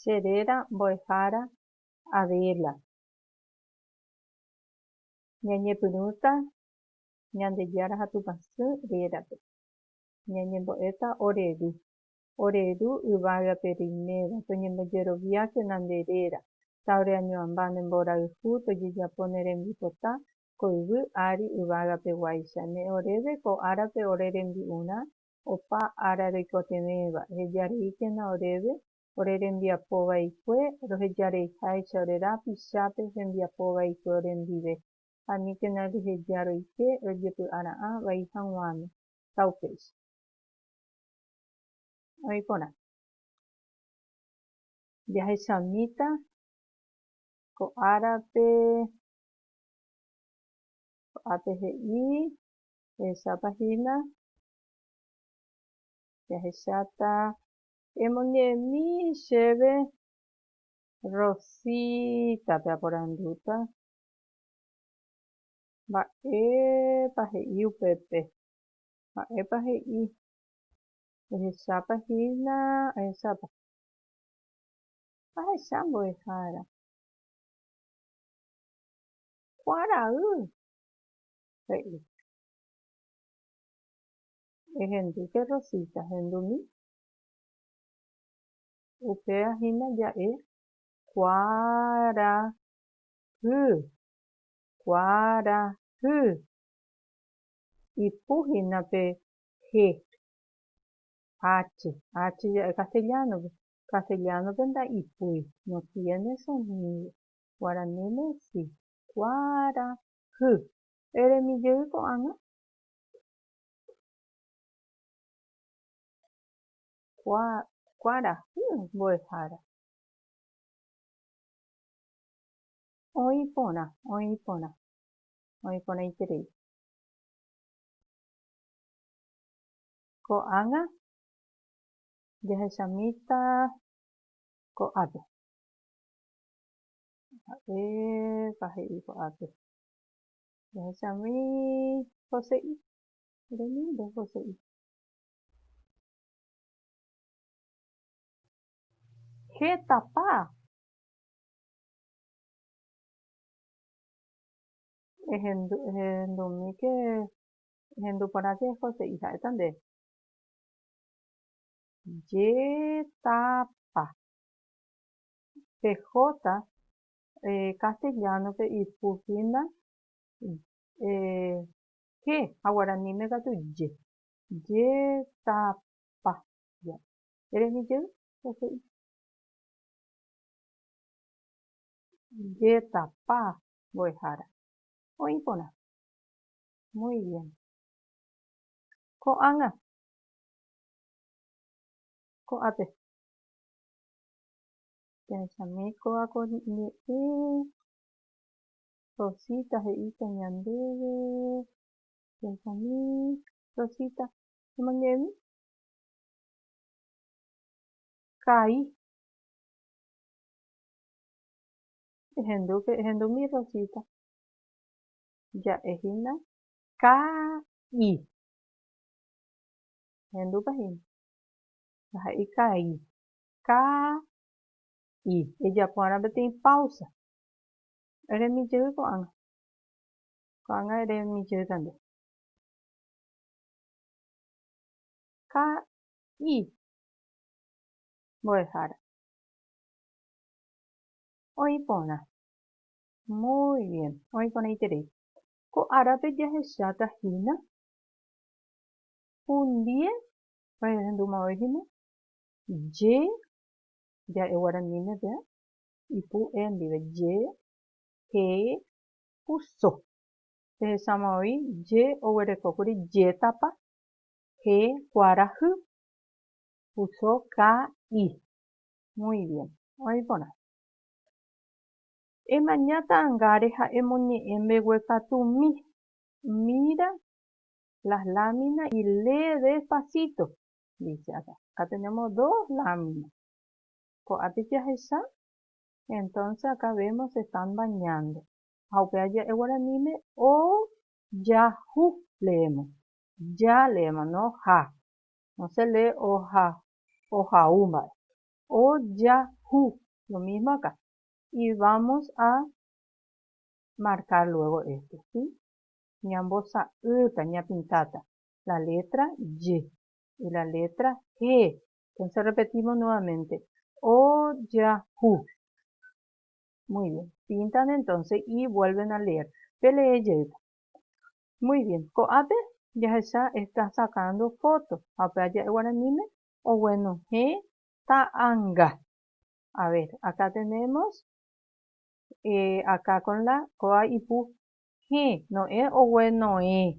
Che réra mbo'ehára Adela. Ñañepyrũta Ñandejára ha Tupã Sy rérape. Ñañembo'éta ore ru. Ore ru yvágape reiméva, toñembojeroviákena nde réra, taoreañoamba ne mborayhu, tojejapo ne rembipota ko yvy ári yvágapeguáicha. Ne oréve ko árape ore rembi'urã opa ára roikotevẽva, ehejareíkena oréve ore rembiapo vaikue, rohejareiháicha ore rapichápe hembiapo vaikue orendive, ha aníkena reheja roike rojepy'ara'ã vai haguãme. Ta upéicha. Oĩ porã. Jahechamíta ko árape, ko'ápe he'i. Ehechápa hína, jahecháta emoñe'ẽmi chéve Rosítape aporandúta mba'épa he'i upépe, mba'épa he'i, ehechápa hína, ehechápa. Ahecha mbo'ehára. Kuarahy. he'i. Ehendúke Rosita, hendumi. Upéva hína ja'e kuarahy, kuarahy. Ipu hína pe he, hache, hache ja'e castellano-pe. Castellano-pe nda'ipúi, no tiene sonido. Guaraníme si, kuarahy. Hy. Eremi jey ko'ág̃a? Kuarahy mbo'ehára. Oĩ porã, oĩ porã. Oĩ porãiterei. Ko'ág̃a jahechamíta ko'ápe. Ha'épa he'i ko'ápe, Jahechami José'i, remímbe José'i. Hétapa ehendumíke, ehendu porãke José'i, ha'éta nde. Jetapa. pe J castellano-pe ipu hína J ha guaraníme katu J. Jetapa. Erejy jey pe he'i. Jetapa mbo'ehára. Oĩ porã. Muy bien. Ko'ág̃a. Ko'ápe. Pya'échame kóva ko ñe'ẽ Rosita he'íta ñandéve. Pya'échame Rosita, emoñe'ẽmi ka'i. Ehendúpe, ehendúmi Rosita. Ja'e hína ka'i. Ehendúpa hína. Jaha'éi ka'i. Kaa i. Ejapo va'erã peteĩ páusa. Eremi jey ko'ág̃a. Ko'ág̃a eremi jey kande. Kaa i. Mbo'ehára. Oĩ porã. Muy bien. Oĩ porãiterei. Ko árape jahecháta hína hundie ohendu mavoi hína Ye, ja'e guaraníme pe, ipu e ndive, ye, he, pu so. Pehecháma voi, ye oguerekókuri jetapa, he kuarahy, pu so ka i. Muy bien. Oĩ iporã. Emaña ta'angáre ha emoñe'ẽ mbeguekatu mi. Mira las láminas y lee despacito. dice acá. Acá tenemos dos láminas. Ko'ápe jahecha, entonces acá vemos se están bañando. Ha upéva ja'e guaraníme o ja hu leemos. Ja leemos, no ha. No se lee o ha, o ha u mba'e. O ja hu, lo mismo acá. Y vamos a marcar luego esto, ¿sí? Ñambosa'ýta, ñapintáta. la létra J y la létra G. Entonces repetimos nuevamente. Ojahu. Muy bien. Pintan entonces y vuelven a leer. Pe lee jeýta. Muy bien. Ko'ápe jahecha está sacando foto. Ha pe aja'e guaraníme oguenohẽ ta'anga. A ver, acá tenemos eh, acá con la ko'a ipu hẽ, no es ogueno'ẽ.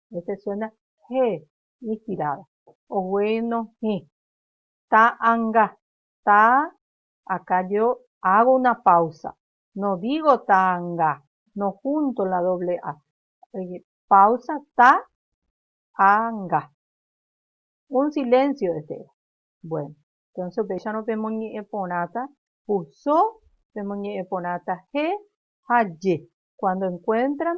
Este suena he inspirado. Ogueno hĩ. Ta anga. Ta Acá yo hago una pausa. No digo ta anga. No junto la doble a. Pausa ta a nga. Un silencio este era. Bueno. Entonces upéicharõ pemoñe'ẽ porãta puso, pemoñe'ẽ porãta he ha je. Cuando encuentran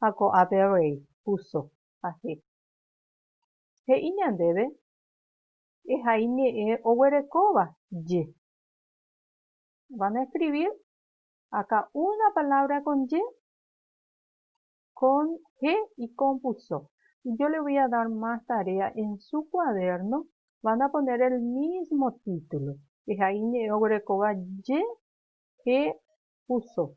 ha ko'ápe rei púso ha he'i. He'i ñandéve ehai ñe'ẽ oguerekóva ye. Van a escribir acá una palabra con ye, con he y con púso. Y yo le voy a dar más tarea, en su cuaderno van a poner el mismo título, ehai ñe'ẽ oguerekóva ye, he, púso.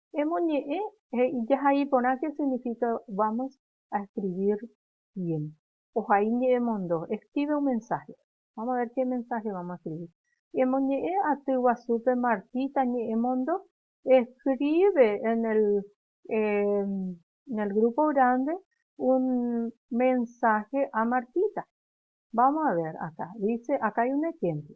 Emoñe'ẽ he'i jahai porã ke signifika vamos a escribir bien. Ohai ñe'ẽ mondo, escribe un mensaje. Vamos a ver qué mensaje vamos a escribir. Emoñe'ẽ aty guasúpe Martita ñe'ẽ mondo, escribe en el, en el grupo grande un mensaje a Martita. Vamos a ver acá, dice, acá hay un ejemplo.